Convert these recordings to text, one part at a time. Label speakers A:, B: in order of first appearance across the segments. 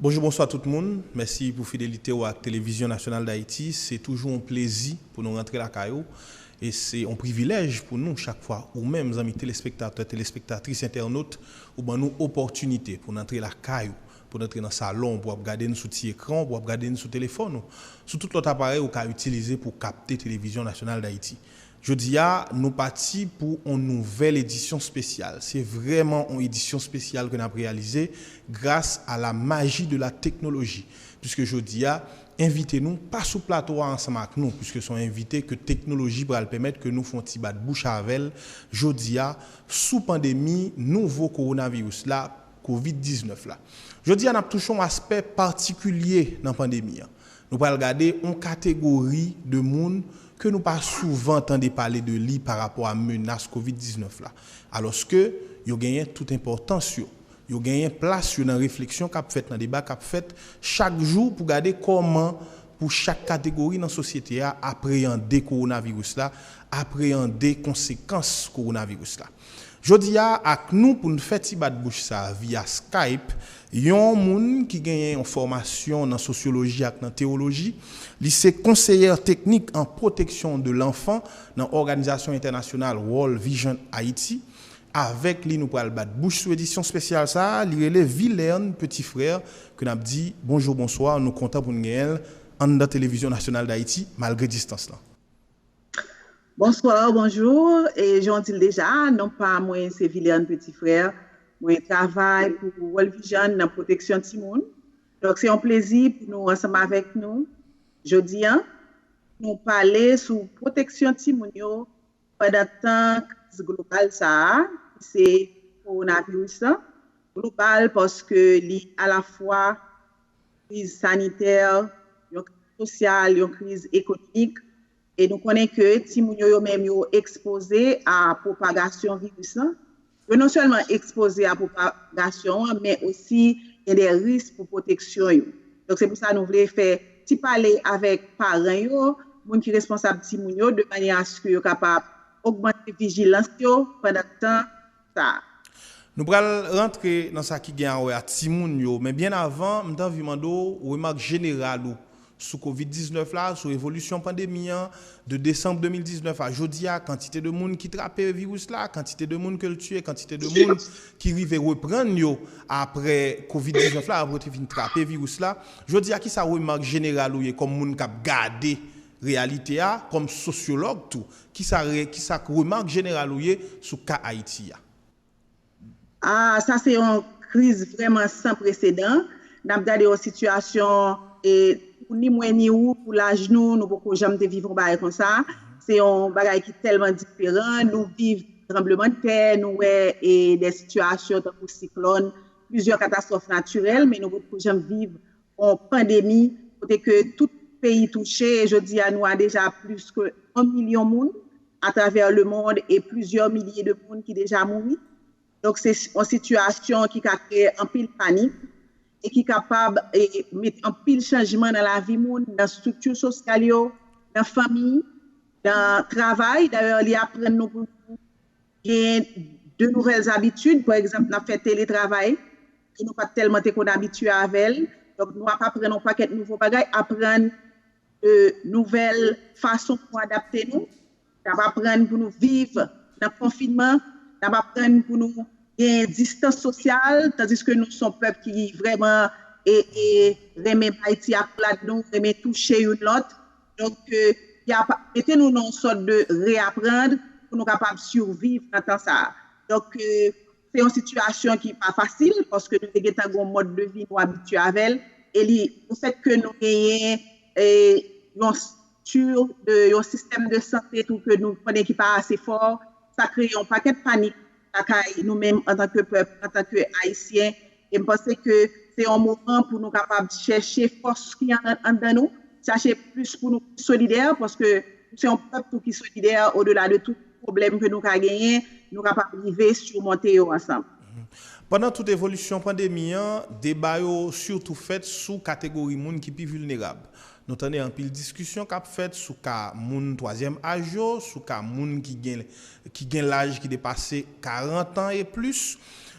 A: Bonjou bonswa tout moun, mèsi pou fidelite ou ak Televizyon Nasyonal Dayiti, se toujou yon plezi pou nou rantre lakay ou e se yon privilèj pou nou chak fwa ou menm zanmi telespektatè, telespektatris, entènot Ou ban nou opòtinite pou n antre lakay ou, pou n antre nan salon w pou w ap gade n sou ti ekran w, pou w ap gade n sou telefòn ou, sou tout lòt aparèy ou ka itilize pou w kapte Televizyon Nasyonal Dayiti. Jodi a, nou pati pou on nouvèl edisyon spesyal. Se vrèman on edisyon spesyal ke n ap reyalize gras a la maji de la teknoloji. Piske jodi a, envite nou pa sou plato a ansanm ak nou, piske s on envite ke teknoloji pral pèmèt ke nou fon ti bat bouch avè l jodi a, sou pandemi nouvo kowonaviris la, Covid 19 la. Jodi a n ap touche yon aspè patikilye nan pandemi an. Nou pral gade yon kategori de moun ke nou pa souvan tande pale de li pa rapò a menas Covid 19 la, alòske yo genyen tout enpòtans yo. Yo genyen plas yo nan refleksyon k ap fèt, nan deba k ap fèt chak jou pou gade kòman pou chak kategori nan sosyete a apreyande kowonaviris la, apreyande konsekans kowonaviris la. Jodi a, ak nou pou n fè ti bat bouch sa a viya Skype, yon moun ki genyen yon fòmasyon nan sosyoloji ak nan tewoloji. Li se konseyè teknik an pwoteksyon de lanfan nan òganizasyon entènasyonal World Vision Haiti. Avèk li nou pral bat bouch sou edisyon spesyal sa a, li rele Vilern Petit Frère ke nap di bonjour bonsoir, nou kontan pou n genyen l anndan Televizyon Nasyonal Dayiti malgre distans lan. Bonsoir,
B: bonjour, e jan w di l deja, non pa mwen se Vilern Petit Frère, mwen travay pou World Vision nan pwoteksyon timoun, donk se yon plezi pou nou ansanm avèk nou jodi an pou nou pale sou pwoteksyon timoun yo Pandan tan kriz global sa a, ki se kowonaviris la, global paske li alafwa kriz sanitè, yon kriz sosyal, yon kriz ekonomik, e nou konnen ke timoun yo yo menm yo ekspoze a pwopagasyon viris la, Yo non sèlman ekspoze a pwopagasyon an men osi gen de risk pou pwoteksyon yo. Donk se pou sa nou vle fè ti pale avèk paran yo, moun ki responsab timoun yo de manyè aske yo kapab ogmante vijilans yo pandan tan sa a. Nou pral
A: rantre nan sa ki gen a wè a timoun yo men byen avan m t anvi mande w remak jeneral ou Sou Kovid 19 la, sou evolisyon pandemi an, de desanm 2019 a jodi a, kantite de moun ki trape viris la, kantite de moun ke l tiye, kantite de moun ki rive reprann yo apre Kovid 19 la, apre yo te fin trape viris la. Jodi a, kisa remak jeneral ou ye kòm moun k ap gade reyalite a, kòm sosyològ tou? Kisa kisa remak jeneral ou ye sou ka Ayiti a?
B: Ah sa se yon kriz vrèman san presedan, nap gade yon sitiyasyon e pou ni mwen ni ou pou laj nou, nou poko janm te viv yon bagay konsa, se yon bagay ki tèlman diferan, nou viv tranblemanntè, nou wè e dè sitiyasyon tankou siklòn, plizyè katastwòf natirèl men nou potko janm viv yon pandemi kote ke tout peyi touche e jodi a nou a deja plis ke 1 milyon moun atravè le mond e plizyè milye de moun ki deja mouri. Donk se yon sitiyasyon ki ka kreye anpil panik e ki kapab met anpil chanjman nan lavi moun, nan estrikti sosyal yo, nan fanmi, nan travay. Dayè li aprann nou pou nou genyen de nouvèl zabitid, pa egzanp nan fè teletravay. ke nou pat tèlman te konn abitye avè l, donk nou ap aprann yon pakèt nouvo bagay, aprann nouvèl fason pou adapte nou, n ap aprann pou nou viv nan konfinman, n ap aprann pou nou genyen distans sosyal, tandiske nou son pèp ki vrèman renmen bay ti akolad nou, renmen touche youn lòt, donk y ap mete nou nan yon sòt de reapprendre pou nou kapab survivre nan tan sa a. Donk. Se yon sitiyasyon ki pa fasil paske nou te gentan gen yon mòd de vi nou abitye avè l e li le fèt ke nou genyen yon stru yon sistèm de sante tou ke nou konnen ki pa ase fò sa kreye yon pakèt panik lakay nou menm antanke pèp antanke ayisyen E m panse ke se yon moman pou nou kapab chèche fòs ki anndan nou, chache plis pou nou pi solidè, paske nou se yon pèp tou ki solidè odela de tout pwoblèm ke nou ka genyen, nou kapab rive simonte yo ansanm. Pandan tout
A: evolisyon pandemi an, deba yo sitou fèt sou kategori moun ki pi vilnerab. Nou tande anpil diskisyon k ap fèt sou ka moun twazyèm aj yo, sou ka moun ki gen laj ki depase 40 an e plis.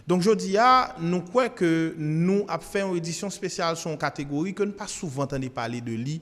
A: Donk jodi a, nou kwè ke nou ap fè yon edisyon spesyal sou yon kategori ke n pa souvan tande pale de li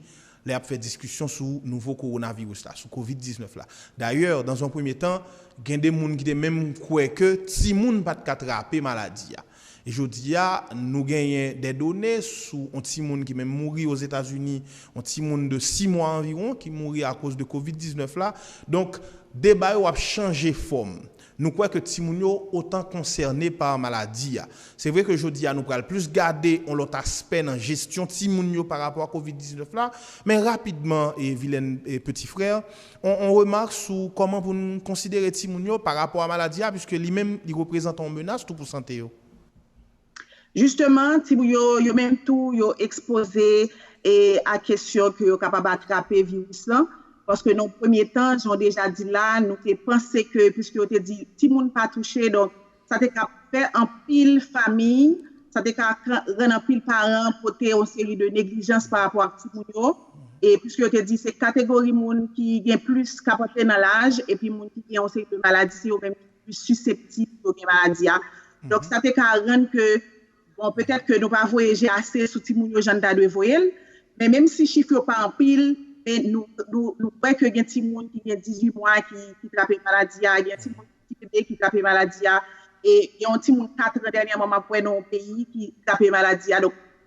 A: lè y ap fè diskisyon sou nouvo kowonaviris la, sou kovid 19 la. Dayè, dans un premye tan, gen de moun ki te menm kwè ke timoun pa t ka trape maladi a. E jodi a, nou genyen dè done sou yon timoun ki menm mouri Ozetazini, yon timoun de 6 mwa anviwon ki mouri akoz de kovid 19 la. Donk, deba yo ap chanje fòm. Nou kwè ke timoun yo otan konsène pa maladi a. Se vre ke jodi a nou pral plis gade yon lòt aspè nan jesyon timoun yo pa rapò a Covid 19 la, men rapidman e Vilaine e Petit Frère, on on remak sou kòman pou n konsidere timoun yo pa rapò a maladi a, puiske li menm li reprezantan yon menas tou pou sante yo. Jisteman,
B: timoun yo, yo menm tou, yo ekspoze a kesyon ke yo kapab atrape viris lan, paske nan yon premye tan, jan w deja di la, nou te panse ke, piske yo te di timoun pa touche, donk, sa te ka fè anpil fami, sa te ka rann anpil paran pote yon seri de neglijans pa rapò ak timoun yo, e piske yo te di se kategori moun ki gen plis, k ap antre nan laj, epi moun ki gen yon seri de maladi, se yo menm ki. plis siseptib pou yo gen maladi a. Donk sa te ka rann ke, bon petèt ke nou pa voye je ase sou timoun yo jan n ta dwe voye l, men menm si chif yo pa anpil, men nou kwè ke gen timoun ki gen 18 mwa ki trape maladi a, gen timoun ki ti bebe ki trape maladi a, e gen yon timoun 4 an dènyèman m ap wè nan yon peyi ki trape maladi a.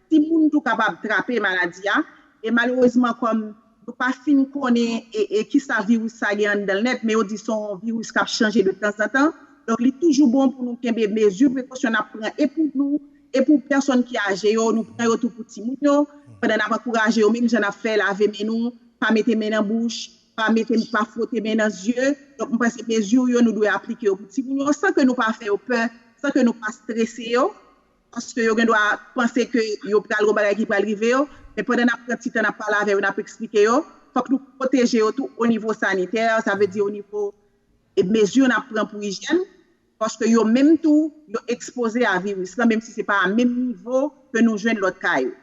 B: Timoun tou kapab trape maladi a, e malerezman kòm yo pa fin konnen e kisa viris sa gen anndan l nèt, men yo di se yon viris k ap chanje de tanzantan, donk li toujou bon pou nou kenbe mezi prekosyon n ap pran e pou nou, e pou pèsòn ki aje yo, nou pran yo tou pou timoun yo, pandan n ap ankouraje yo menm jan n ap fè lave men nou, pa mete men nan bouch, pa mete, pa fwote men nan zye, donk mwen panse mezi yo nou dwe aplike yo pou timoun yo, san ke nou pa fè yo pè, san ke nou pa strese yo. paske yo gendwa panse ke yo pral gon bagay ki pral rive yo, men pandan n ap pran ti tan n ap pale avè yo, n ap eksplike yo, fòk nou pwoteje yo tou onivo sanitè, sa vle di onivo mezi n ap pran pou ijyèn, paske yo menm tou yo ekspoze a viris lan menm si se pa a menm nivo ke nou jwenn lòt ka yo.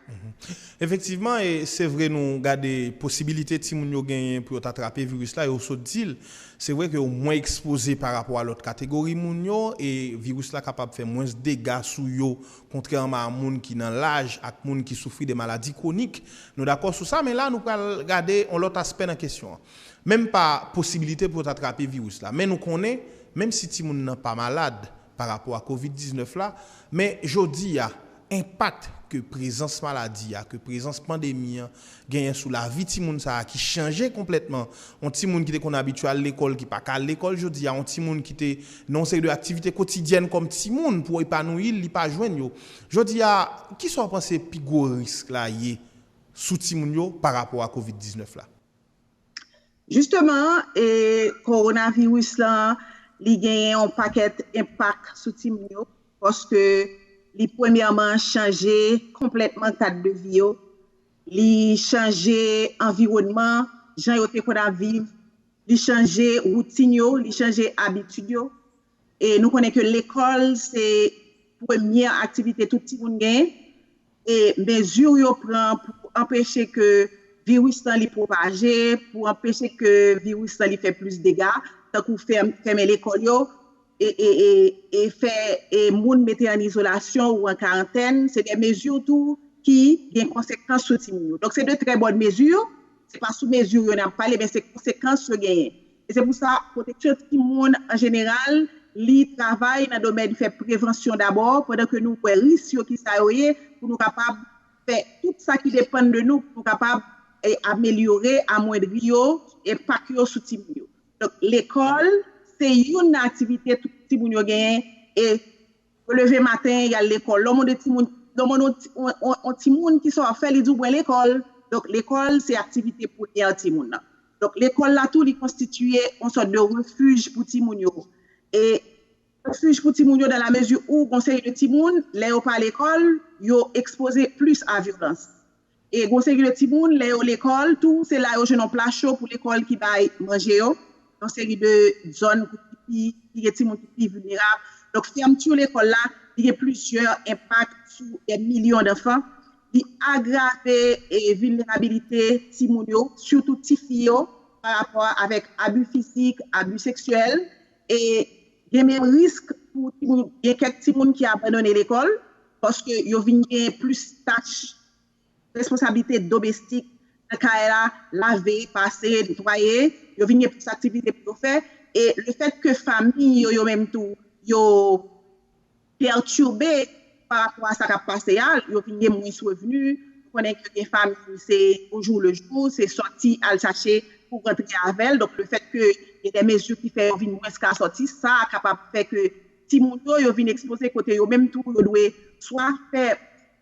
B: Efektivman,
A: e se vre nou gade posibilite timoun yo genyen pou yo ta trape viris la, yo sot di l, Se vre ke ou mwen ekspoze pa rapò a lòt kategori moun yo, e viris la kapab fè mwens dega sou yo kontrèman a moun ki nan laj ak moun ki soufri de maladi kwonik. Nou dakò sou sa, men la nou pral gade yon lòt aspè nan kesyon an. Menm pa posibilite pou yo ta trape viris la, men nou konnen, menm si timoun nan pa malad, pa rapò a Kovid 19 la, men jodi a, enpak ke prezans maladi a, ke prezans pandemi an genyen sou lavi timoun sa a ki chanje konplètman, yon timoun ki te konn abitye al lekòl ki pa ka al lekòl jodi a, yon timoun ki te nan yon seri de aktivite kotidyèn kòm timoun pou epanouyi l, li pa jwenn yo. Jodi a, ki sa ou panse pi gwo risk la ye sou timoun yo pa rapò a Kovid 19 la? Jisteman,
B: kowonaviris la, li genyen yon pakèt enpak sou timoun yo, paske li premyèman chanje konplètman kad de vi yo, li chanje anviwònman, jan yo te konn ap viv, li chanje woutin yo, li chanje abitid yo. e nou konnen ke lekòl se premye aktivite tout timoun genyen e mezi yo pran pou anpeche ke viris lan li pwopaje, pou anpeche ke viris lan li fè plis dega, tankou fèmen lekòl yo e fè moun mete an izolasyon ou an karantèn, se de mezi tou ki gen konsekans sou timoun yo. Donk se de trè bòn mezi, se pa sou mezi yo n ap pale men se konsekans yo genyen. E se pou sa, pwoteksyon timoun an jeneral, li travay nan domèn fè prevansyon dabò, pandan ke nou wè risk yo ki sa yo ye, pou nou kapab fè tout sa ki depann de nou, pou nou kapab amelyore, amwendri yo, enpak yo sou timoun yo. Donk lekòl, se youn nan aktivite tout timoun yo genyen, e Yo leve maten, y al lekòl. Lè w mande timoun, lè w mande yon ti, yon timoun kisa w ap fè, li di w mwen lekòl. Donk lekòl se aktivite premyè timoun nan. Donk lekòl la tou li konstitiye yon sòt de refij pou timoun yo. E refij pou timoun yo dan la mezi ou gon seri de timoun lè yo pa lekòl, yo ekspoze plis a vyolans. E gwo seri de timoun, lè yo lekòl tou, se la yo jwenn yon pla cho pou lekòl ki bay manje yo. Yon seri de zòn pou ti fi, ki gen timoun ki pi vilnerab. Donk fèmti lekòl la, li gen plizyè enpak sou dè milyon danfan. Li agrave vilnerabilite timoun yo, sitou ti fi yo, pa rapò avèk abi fizik, abi seksyèl. E gen menm risk pou timoun, gen kèk timoun ki abandone lekòl paske yo vin gen plis tach, responsablite domestik nan kay la, lave, pase, netwaye, yo vin gen plis aktivite pou yo fè e lefètke fanmi yo yo menm tou yo. pètube parapò a sa kap pase a, yo vin gen mwens revni, nou konnen ke gen famiy se o jou le jou, se sòti al chache pou rantre avèl, donk le fèt ke gen de mezi ki fè yo vin mwens ka sòti, sa kapab fè ke timoun yo, yo vin ekspoze kote yo menm tou yo dwe swa fè.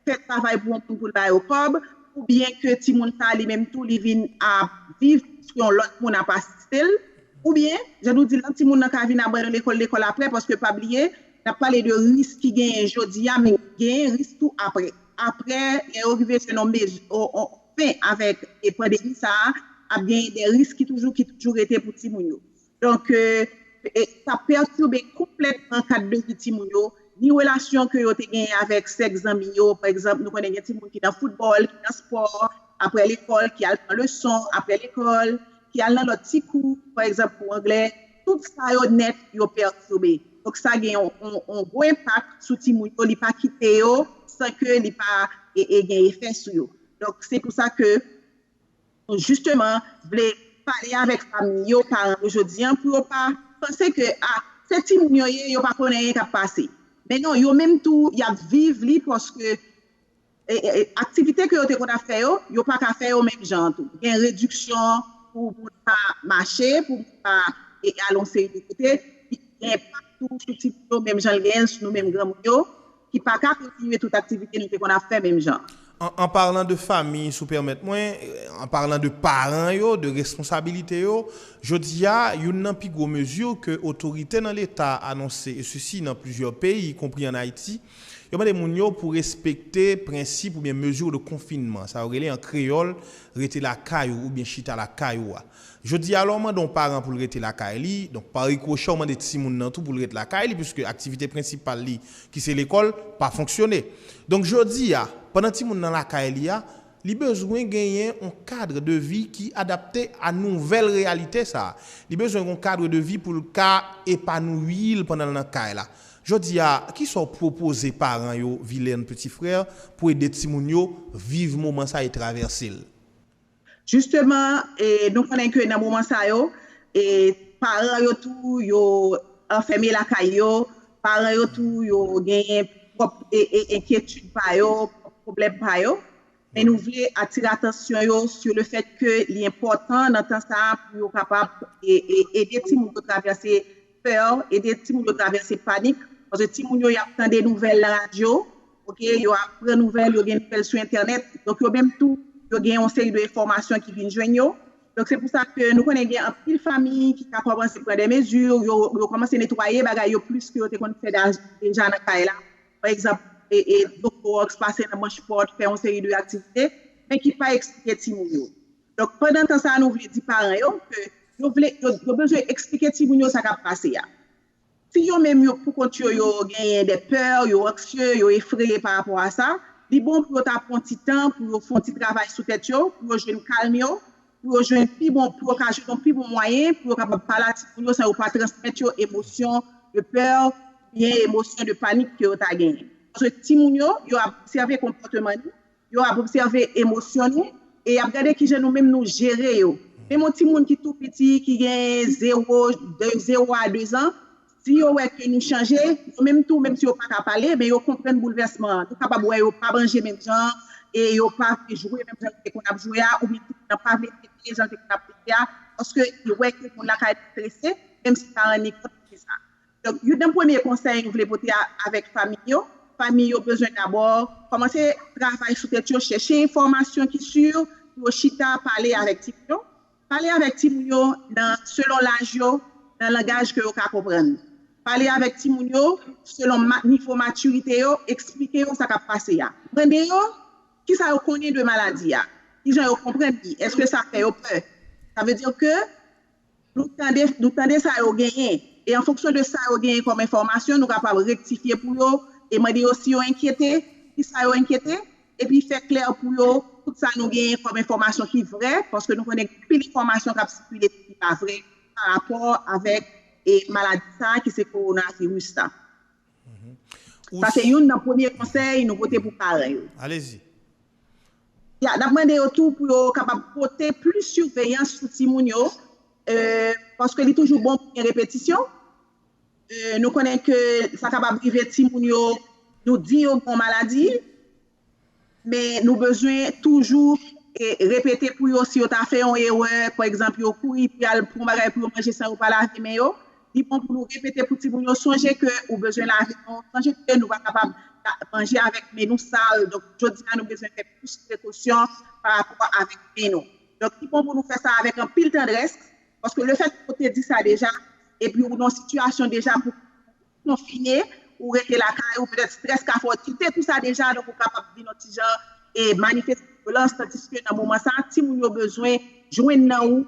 B: fè travay pou yon moun pou l ba yo kòb, oubyen ke timoun sa a li menm tou li vin ap viv paske yon lòt moun ap asiste l, oubyen, jan nou di l lan, timoun nan ka vin abandone lekòl, lekòl aprè, paske pa bliye, n ap pale de risk ki genyen jodi a, men genyen risk tou aprè. Aprè, lè yo rive jwenn yon mezi, yon fen avèk pandemi sa a, ap genyen de risk ki toujou, ki toujou rete pou timoun yo. Donk, sa ap pètibe konplètman kad de vi timoun yo, ni relasyon ke yo te genyen avèk sèk zanmi yo. Pa egzanp, nou konnen gen timoun ki nan foutbòl, ki nan spò, aprè lekòl, ki al pran leson aprè lekòl, ki al nan lòt ti kou, pa egzanp kou anglè. Tout sa yo nèt yo pètibe. Donk, sa gen yon gwo enpak sou timoun yo, li pa kite yo san ke li pa gen efè sou yo. Donk, se pou sa ke Nou jisteman vle pale avèk fanmi yo, paran yo jodi an pou yo pa panse ke a se timoun yo ye, yo pa konn anyen k ap pase. Men non, yo menm tou y ap viv li paske aktivite ke yo te konn ap fè yo, yo pa ka fè yo menm jan an tou. Gen rediksyon pou moun pa mache, pou moun pa al yon seri de kote. Li gen enpak tou sou timoun yo menm jan l genyen l sou nou menm granmoun yo. ki pa ka kontinye tout aktivite nou te konn ap fè menm jan. An parlan de
A: fami, si w pèmèt mwen, an parlan de paran yo, de responsabilite yo, jodi a, youn nan pi gwo mezi ke otorite nan Leta anonse, e sesi nan plizyè peyi, y konpri an Ayiti, yo mande moun yo pou respekte prensip oubyen mezi de konfinman, sa yo rele an kreyòl rete lakay ou oubyen chita lakay ou a. Jodi a, lè w mande yon paran pou l rete lakay li, donk pa rikwochè w mande timoun nan tou pou l ret lakay li piske aktivite prensipal li ki se lekòl pa fonksyone. Donk jodi a, pandan timoun nan lakay li a, li bezwen genyen yon kadre de vi ki adapte a nouvèl reyalite sa a. Li bezwen yon kadre de vi pou l ka epanouyi l pandan l nan kay la. Jodi a, ki sa w pwopoze paran yo, Vilaine Petit Frère, pou ede timoun yo viv moman sa e travèse l?
B: Jisteman, nou konnen ke nan moman sa yo, paran yo tou yo anfème lakay yo, paran yo tou yo genyen pwòp enkyetid pa yo, pwòp pwoblèm pa yo, men nou vle atire atansyon yo sou le fèt ke li enpòtan nan tan sa a pou yo kapab ede timoun yo travèse pè, ede timoun yo travèse panik, paske timoun yo y ap tande nouvèl nan radyo, ok, yo ap pran nouvèl, yo gen nouvèl sou entènèt, donk yo menm tou yo gen yon seri de enfòmasyon ki vin jwenn yo, donk se pou sa ke nou konnen gen anpil fanmi ki ka kòmanse pran dè mezi, yo kòmanse netwaye bagay yo plis ke yo te konn fè deja nan kay la, pa egzanp, dlo klowòks, pase nan manch pòt, fè yon seri de aktivite, men ki pa eksplike timoun yo. Donk pandan tan sa a nou vle di paran yo ke yo vle, yo bezwen eksplike timoun yo sa k ap pase a. Si yo menm yo pou kont yo yo genyen des peurs, yo anksye, yo efreye pa rapò a sa, li bon pou yo ta pran ti tan pou yo fè yon ti travay sou tèt yo, pou yo jwenn kalm yo, pou yo jwenn pi bon, pou yo ka jwenn yon pi bon mwayen pou yo kapab pale ak timoun yo san yo pa transmèt yo emosyon de peur oubyen emosyon de panik ke yo ta genyen. Paske timoun yo, yo ap obsève konpòteman nou, Yo ap obsève emosyon nou e y ap gade ki jan nou menm nou jere yo. Menm yon timoun ki tou piti, ki gen zewo, de zewo a dezan, si yo wè ke nou chanje, yo menm tou, menm si yo pa ka pale, men yo konprann boulvèsman an. Nou kapab wè yo pa manje menm jan an e yo pa vle jwe menm jan yo te konn ap jwe a oubyen timoun nan pa vle tete jan l te konn ap tete a paske li wè ke moun lakay li strese, menm si pa rann li kont li fè sa. Donk, youn nan premye konsèy m vle pote avèk fanmi yo, fanmi yo bezwen dabò kòmanse travay sou tèt yo, chèche enfòmasyon ki si pou yo chita pale avèk timoun yo. Pale avèk timoun yo nan selon laj yo, nan langaj ke yo ka konprann. Pale avèk timoun yo selon nivo matirite yo, eksplike yo sa k ap pase a. Mande yo ki sa yo konnen de maladi a, ki jan yo konprann li, èske sa fè yo pè. Sa vle di ke Nou tande, nou tande sa yo genyen, e an fonksyon de sa yo genyen kòm enfòmasyon, nou kapab rektifye pou yo, e mande yo si yo enkyete, ki sa yo enkyete, epi fè klè pou yo tout sa nou genyen kòm enfòmasyon ki vrè, paske nou konnen gen anpil enfòmasyon k ap sikile tou ki pa vrè, pa rapò avèk maladi sa a ki se kowonaviris la. Sa se youn nan premye konsèy nou pote pou paran yo. N ap mande yo tou pou yo kapab pote plis siveyans sou timoun yo, paske li toujou bon pou gen repetisyon. Nou konnen ke sa kapab rive timoun yo, nou di yo gen yon maladi, Men nou bezwen toujou repete pou yo si yo ta fè yon erè, pa egzanp yo kouri pou y al pran yon bagay pou yo manje san yo pa lave men yo, li bon pou nou repete pou timoun yo sonje ke ou bezwen lave men w, sonje ke nou pa kapab manje avèk men nou sal, donk jodi a nou bezwen fè plis prekosyon pa rapò avèk men nou. Donk li bon pou nou fè sa avèk anpil tandrès, paske lefètke ou te di sa deja, epi ou nan sitiyasyon deja pou konfine, ou rete lakay ou, petèt strès ka fè w kite tout sa deja, donk ou kapab vin yon ti jan e manifeste vyolans, tandiske nan moman sa a, timoun yo bezwen jwenn nan ou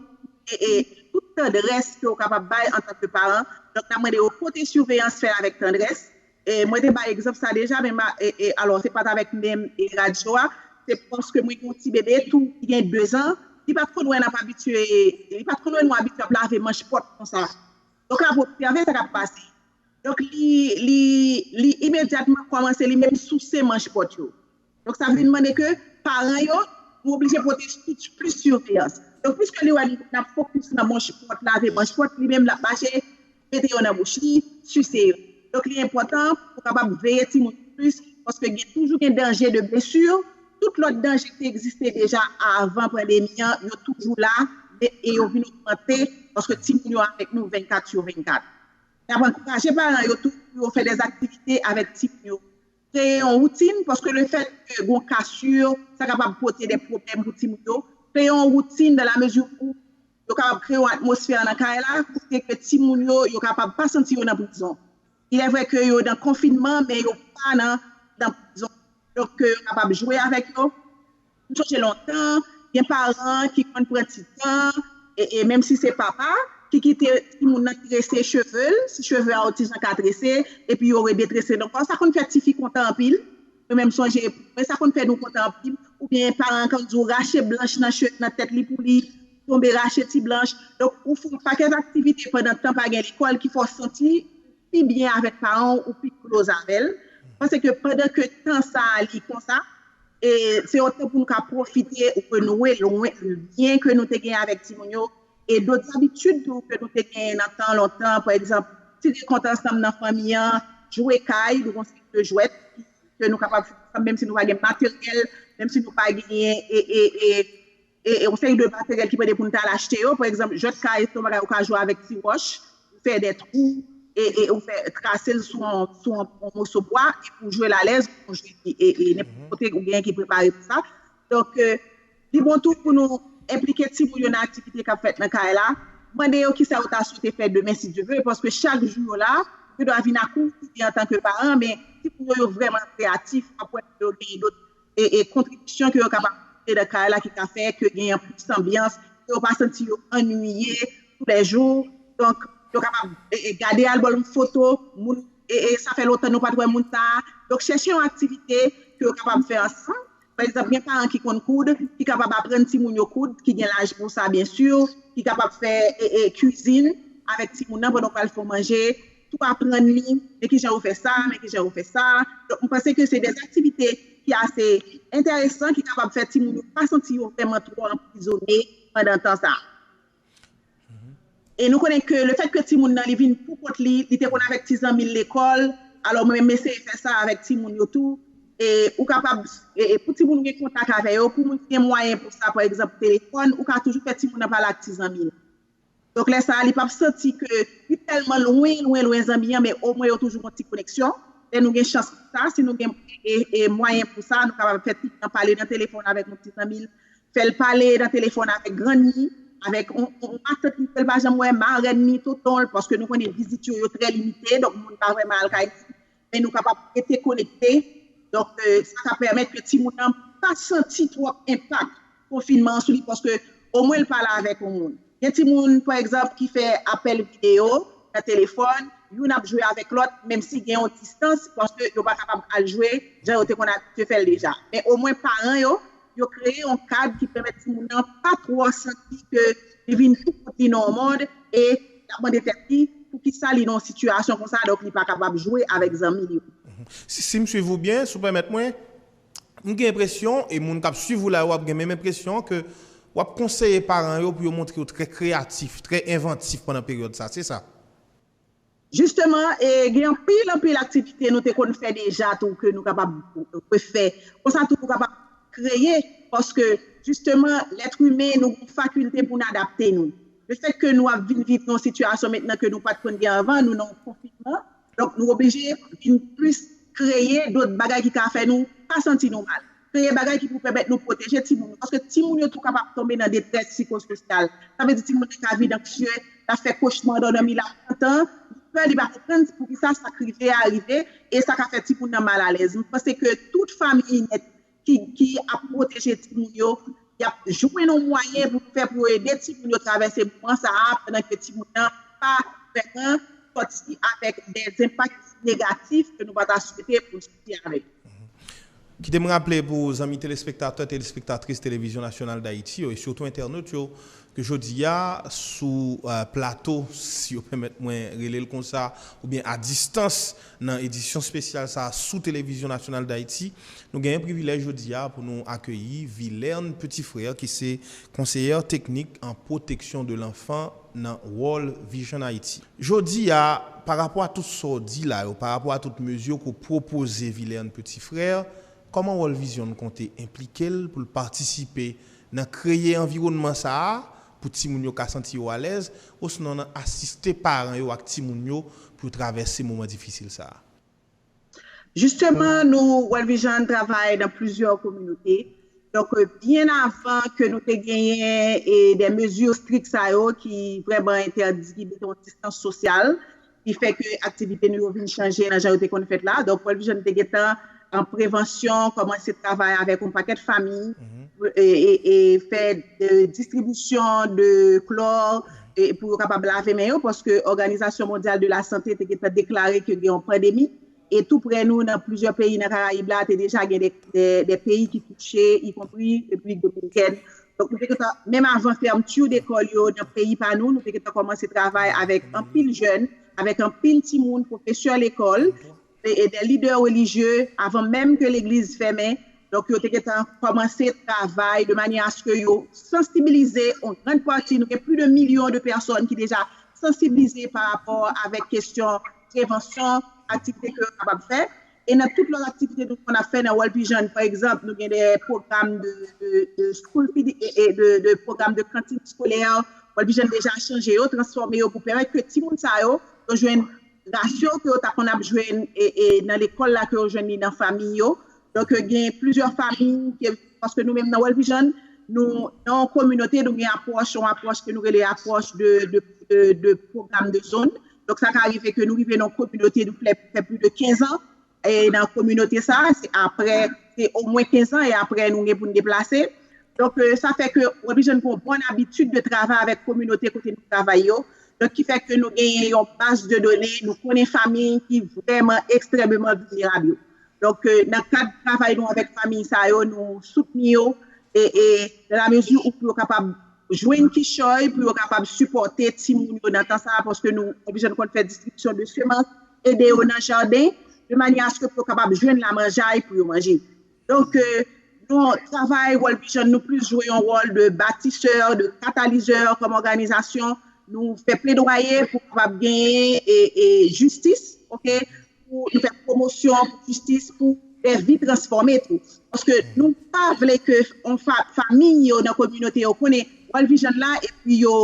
B: e tout tandrès ke ou kapab bay antanke paran, donk n ap mande yo pote siveyans, fè l avèk tandrès e mwen te bay egzanp sa deja men ma e alò se pa t avèk menm e radyo a, se paske mwen gen yon ti bebe tou ki gen dezan, li pa t konn wè n ap abitye, li pa t konn wè nou abitye ap lave manch pòt konsa. Yo ka ap obsève sa k ap pase. Donk li li imedyatman kòmanse li menm souse manch pòt yo. Donk sa vin mande ke paran yo nou oblije pote plis siveyans. Donk piske li wè n ap fokis nan manch pòt, lave manch pòt, li menm l ap mache mete yo nan bouch li, sise yo. Donk li enpòtan pou ou kapab veye timoun ou plis paske gen toujou gen danje de blesu, tout lòt danje ki te egziste deja avan pandemi an yo toujou la men e yo vin ogmante paske timoun yo avèk nou 24 su 24. N ap ankouraje paran yo tou pou yo fè dèzaktivite avèk timoun yo Kreye yon woutin, paske le fèt ke gon kasur, sa kapab pote de pwoblèm pou timoun yo. Kreye yon woutin dan la mezi ou yo kapab kreye yon atmosfè nan kay la, kote ke timoun yo, yo kapab pa santi yo nan prizon. Ilè vrè ke yo dan konfinman, men yo pa nan prizon. Donk ke yo kapab jwe avèk yo. M sonje lontan, gen paran ki konn pran ti tan, e menm si se papa, ki kite timoun nan trese cheve l, si cheve a yon ti jan ka trese, epi yo redetrese l ankò. Sa konn fè tifi kontan anpil. Mwen menm m sonje pou mwen, sa konn fè nou kontan anpil. Oubyen paran an konn di w rache blanch nan tèt li pou li, tonbe rache ti blanch. Donk, ou fè yon pakèt aktivite pandan tan pa gen lekòl ki fè w santi pi byen avèk paran w ou pi close avè l pase ke pandan ke tan sa li konsa e se yon tan pou nou ka pwofite renouwe lwen lyen ke nou te gen avèk timoun yo e dot zabitid tou ke nou te gen nan tan lontan pa egzanp tire kont ansanm nan fanmi an jwe kay nou gon seri de jwèt ke nou kapab fè ansanm menm si nou pa gen materyèl menm si nou pa genyen e e e. yon seri de materyèl ki mande pou n t al achte yo, pa egzanp, jwèt ka e tout bagay ou ka jwe avèk ti wòch, ou fè de twou, e ou fè trase l sou yon moso bwa, e pou w jwe l alèz, ou konn jwe li e nenpòt kote ou genyen ki prepare pou sa. Donk, li bon tou pou nou enplike timoun yo nan aktivite k ap fèt nan kay la, mande yo kisa yo ta swete fè demen si Dye ve, paske chak jou yo la, yo gen dwa vin ak ou, ou vin antanke paran, men timoun yo yo vrèman kreyatif, w ap wè ke yo genyen dot e kontribisyon ke yo kapab pote nan kay la ki ka fè ke genyen plis anbyans, ke yo pa santi yo annwiye tou lè jou. Donk, yo kapab gade albòm foto moun sa fè lontan nou pa t wè moun sa a. Donk, chèche yon aktivite ke yo kapab fè ansanm. Pa egzanp, gen paran ki konn koud, ki kapab aprann timoun yo koud, ki gen laj pou sa byensi, ki kapab fè kizin avèk timoun nan pandan w pral fè yon manje, tou aprann li, men ki jan yo fè sa, men ki jan yo fè sa. Donk, m panse ke se de aktivite ki ase enteresan, ki kapab fè timoun yo pa santi yo vrèman twò anprizone pandan tan sa a. E nou konnen ke le fèt ke timoun nan li vin pou kont li, li te konn avèk ti zanmi l lekòl, alò mwen menm m eseye fè sa avèk timoun yo tou. E ou kapab, pou timoun ou gen kontak avè yo, pou moun ki gen mwayen pou sa, pa egzanp telefòn, ou ka toujou fè timoun nan pale ak ti zanmi l. Donk lè sa a li pap santi ke li tèlman lwen, lwen, lwen zanmi an men omwen yo toujou gon ti koneksyon. Lè nou gen chans pou sa, si nou gen mwayen pou sa, nou kapab fè pitit lan pale nan telefòn avèk yon ti zanmi l, fè l pale nan telefòn avèk grann ni, avèk yon matant ni ke l pa janm wè, marèn ni, tonton l, paske nou konnen vizit yo, yo trè limite, donk moun pa vrèman al kay moun. men nou kapab rete konekte, donk sa ka pèmèt ke timoun nan pa santi twòp enpak konfinman an sou li paske omwen l pale avèk yon moun. Gen timoun, pa egzanp, ki fè apèl videyo nan telefòn, youn ap jwe avèk lòt menm si gen yon distans paske yo pa kapab al jwe jan yo te konn abitye fè l deja. Men omwen paran yo yo kreye yon kad ki pèmèt timoun nan pa twò santi ke li vin tou kout li nan yon mond e l ap mande tèt li poukisa li nan yon sitiyasyon konsa donk li pa kapab jwe avèk zanmi l yo. Si m
A: swiv ou byen, si w pèmèt mwen, m gen enpresyon e moun k ap swiv ou la yo ap gen menm enpresyon ke w ap konseye paran yo pou yo montre yo trè kreyatif, trè envantif pandan peryòd sa, se sa?
B: Jisteman, gen anpil anpil aktivite nou te konn fè deja tou ke nou kapab refè. Konsa tou nou kapab kreye paske jisteman lèt imen nou gen fakilte pou n adapte nou. Lefèt ke nou ap vin viv nan yon sitiyasyon mentnan ke nou pa t konn gen anvan, nou nan yon konfinman, donk nou oblije vin plis kreye dot bagay ki ka fè nou pa santi nou mal. Kreye bagay ki pou pèmèt nou pwoteje timoun yo, paske timoun yo tou kapab tonbe nan detrès sikososyal. Sa vle di timoun nan ka vin anksyè, l ap fè kochma andan dòmi, l ap pantan, li pè, li pa konprann pou ki sa sa k rive a rive, e sa ka fè timoun nan mal alèz. M panse ke tout fanmiy nèt ki ap pwoteje timoun yo, y ap jwenn yon mwayen pou yo fè pou yo ede timoun yo travèse moman sa a pandan ke timoun nan pa vrèman sòti avèk dè enpak negatif ke nou pa ta swete pou l sòti. Ayiti a rèd. Kite
A: m raple pou zanmi telespektatè, telespektatris Televizyon Nasyonal Dayiti yo e sitou entènot yo ke jodi a sou plato, si yo pèmèt mwen rele l konsa, oubyen a distans nan edisyon spesyal sa a sou Televizyon Nasyonal Dayiti, nou genyen privilèj jodi a pou nou akeyi Vilerne Petit-Frère ki se Konseyè Teknik an Pwoteksyon de Lanfan nan World Vision Haiti. Jodi a, pa rapò a tout sa w di la yo, pa rapò a tout mezi yo ke w pwopoze Vilern Petit Frère, kòman World Vision konte enplike l pou l patisipe nan kreye anviwònman sa a pou timoun yo ka santi yo alèz, osnon nan asiste paran yo ak timoun yo pou yo travèse moman difisil sa a? Jisteman
B: nou World Vision travay nan plizyè kominote, donk byen avan ke nou te genyen de mezi strik sa yo ki vrèman entèdi, ki mete yon distans sosyal, ki fè ke aktivite nou yo vin chanje nan jan yo te konn fèt la, donk World Vision te gentan an prevansyon kòmanse travay avèk yon pakèt fami e fè distribisyon de klò, e pou yo kapab lave men yo paske Òganizasyon Mondyal de la Sante te gentan deklare ke gen yon pandemi e tou prè nou nan plizyè peyi nan Karayib la te deja gen de peyi ki touche ikonpri Repiblik Dominikèn. Donk nou te gentan menm avan fermtur dekòl yo nan peyi pa nou, nou te gentan kòmanse travay avèk anpil jèn, avèk anpil timoun, pwofesè lekòl. e dè lidè relijye avan menm ke legliz fèmen, donk yo te gentan kòmanse travay de manyè aske yo sansibilize yon gran pati, nou gen pli de milyon de pèsòn ki deja sansiblize pa rapò avèk kesyon prevansyon aktivite ke yo kapab fè, e nan tout lòt aktivite nou konn ap fè nan World Vision pa egzanp nou gen dè pwogram de school feeding e de pwogram de kantin eskolè, World Vision deja chanje yo, transfòme yo pou pèmèt ke timoun sa yo, yo jwenn. Rasyon ke yo ta konn ap jwe nan lekòl la ke yo jwenn li nan famiy yo. Donk gen plizyè famiy ke paske nou menm nan World Vision nou nan yon kominote nou gen apwòch yon apwòch ke nou rele apwòch de pwogram de zòn. Donk sa ka rive ke nou rive nan yon kominote nou fè pli de 15 an. nan kominote sa a, se apre, se omwen kenzan e apre nou gen pou nou deplase. Donk, sa fè ke w oblije gen yon bon abitid de travay avèk kominote kote nou travay yo. Donk, ki fè ke nou genyen yon baz de done, nou konnen fami ki vrèman ekstrèmeman vilnerab yo. Donk, nan kad travay nou avèk fami sa yo, nou soutni yo e nan la mezi ou pou yo kapab jwenn kichòy, pou yo kapab sipòte timoun yo nan tan sa a, paske nou oblije konn fè distribisyon de semans, ede yo nan jaden de manyè aske pou yo kapab jwenn la manjay pou yo manje. Donk yon travay World Vision nou plis jwe yon wòl de batisè, de katalizè kòm òganizasyon nou fè pledwaye pou kapab genyen e jistis ok pou nou fè pwomosyon pou jistis pou dè vi transfòme tou paske nou pa vle ke yon famiy yo nan kominote yo konnen World Vision la epi yo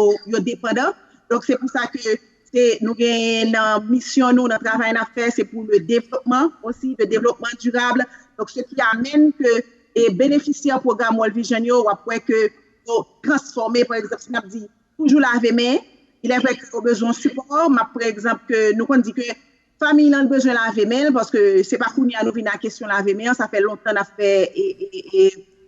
B: depandan donk se pou sa ke Se nou genyen nan misyon nou, nan travay n ap fè, se pou le devlopman osi, le devlopman dirab. Donk se ki amèn ke e benefisyè pwogram World Vision yo, w ap wè ke yo transfòme, pa egzanp, si n ap di toujou lave men, ilèvre ke yo bezwen sipò, m ap pre egzanp ke nou konn di ke, Fanmiy lan bezwen lave men l paske se pa kounye a nou vin a kesyon lave men an sa fè lontan nap fè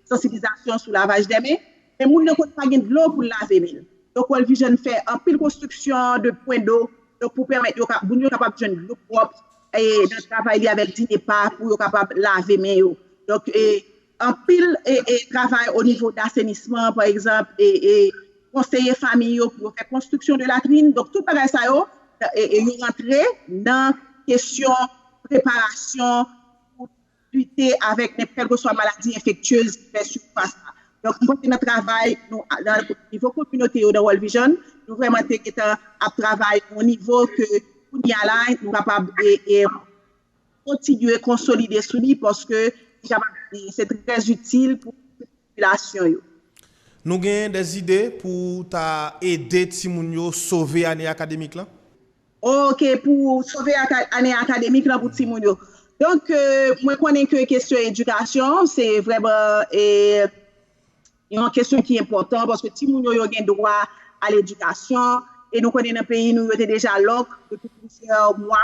B: sansiblizasyon sou lavaj de men men moun nan konn pa gen dlo pou l lave men l donk World Vision fè anpil konstriksyon de pwen do donk pou pèmèt yo moun yo kapab jwenn dlo pwòp nan travay li avèk Dinepa pou yo kapab lave men yo donk Anpil travay o nivo dasenisman pa egzanp e konseye famiy yo pou yo fè konstriksyon de latrin donk tout bagay sa yo yo rantre nan kesyon preparasyon pou lite avèk nenpòt kèlkeswa maladi enfektyez ki fè sifas la donk mwen panse nan travay nou nan nivo kominote yo nan World Vision nou vrèman te gentan ap travay o nivo ke kounye a la nou kapab e. kontinye konsolide sou li paske li kapab se trè itil pou popilasyon yo. Nou
A: gen dè zide pou ta ede timoun yo sove ane akademik lan? Ok
B: pou sove ane akademik lan pou timoun yo. Donk mwen konnen ke kesyon edikasyon se vreman e. Yon kesyon ki enpòtan paske timoun yo yo gen dwa a ledikasyon e nou konnen nan peyi nou yo te deja lòk depi plizyè mwa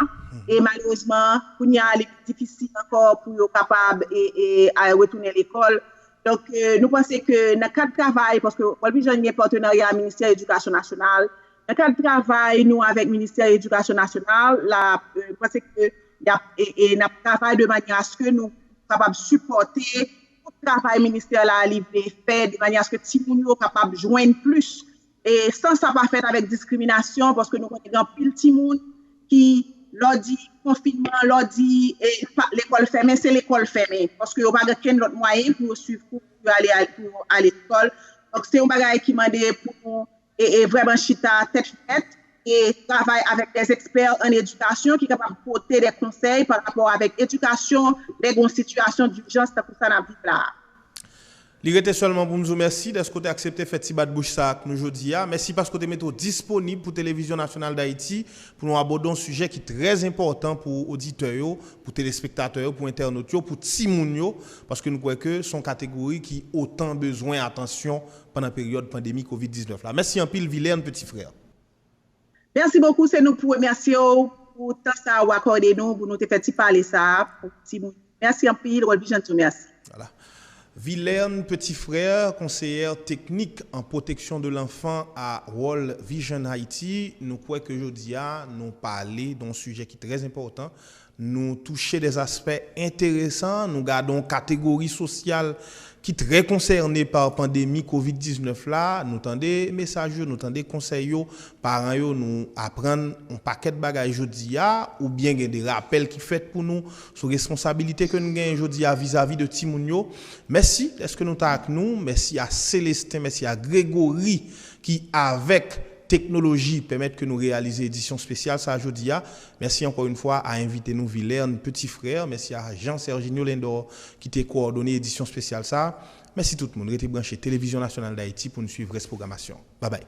B: e malerezman kounye a li pi difisil ankò pou yo kapab retounen lekòl. Donk nou panse ke nan kad travay paske Worldvision gen patenarya a ministè edikasyon nasyonal nan kad travay nou avèk ministè edikasyon nasyonal la nou panse ke n ap travay de manyè aske nou kapab sipòte Tout travay ministè la li vle fè de manyè aske timoun yo kapab jwenn plis e san sa pa fèt avèk diskriminasyon paske nou konnen gen anpil timoun ki lè w di konfinman, lè w di lekòl fèmen se lekòl fèmen paske yo pa gen okenn lòt mwayen pou yo swiv kou pou yo ale lekòl. Donk se yon bagay ki mande pou nou e vrèman chita tèt frèt e travay avèk dè ekspè an edikasyon ki kapab pote dè konsèy pa rapò avèk edikasyon lè gen yon sitiyasyon dijans tankou sa n ap viv la a. Li
A: rete sèlman pou m di w mèsi dèske w te aksepte fè ti bat bouch sa a ak nou jodi a. Mèsi paske w te mete w disponib pou Televizyon Nasyonal Dayiti pou nou abòde yon sijè ki trè enpòtan pou oditè yo, pou telespektatè yo, pou entènot yo, pou timoun yo, paske n kwè ke se yon kategori ki otan bezwen atansyon pandan peryòd pandemi covid 19 la. Mèsi anpil Vilerne petit frère.
B: Merci beaucoup se nou pou remèsye w pou tan sa ou akòde nou pou nou te fè ti pale sa pou ti moun yo mèsi anpil World Vision tou mèsi. Voilà.
A: Vilerne petit frère, Conseillère Technique en Protection de l'Enfant a World Vision Haiti, nou kwè ke jodi a nou pale don sijè ki trè enpòtan Nou touche de aspè enteresan, nou gade yon kategori sosyal ki trè konsène pa pandemi kovid 19 la, nou tande mesaj yo, nou tande konsèy yo, paran yo nou aprann yon pakèt bagay jodi a, oubyen gen de rapèl ki fèt pou nou sou responsabilite ke nou genyen jodi a vizavi de timoun yo. Mèsi dèske nou ta ak nou, mèsi a Célestin, mèsi a Grégory ki avèk teknoloji pèmèt ke nou reyalize edisyon spesyal sa jodi a. Mèsi ankò yn fwa a envite nou Vilerne Petit Frère, mèsi a Jean Serginio Lindor ki te kowòdone edisyon spesyal sa. Mèsi tout moun, rete branche Televizyon Nasyonal Dayiti pou n swiv rès pwogramasyon. Babay!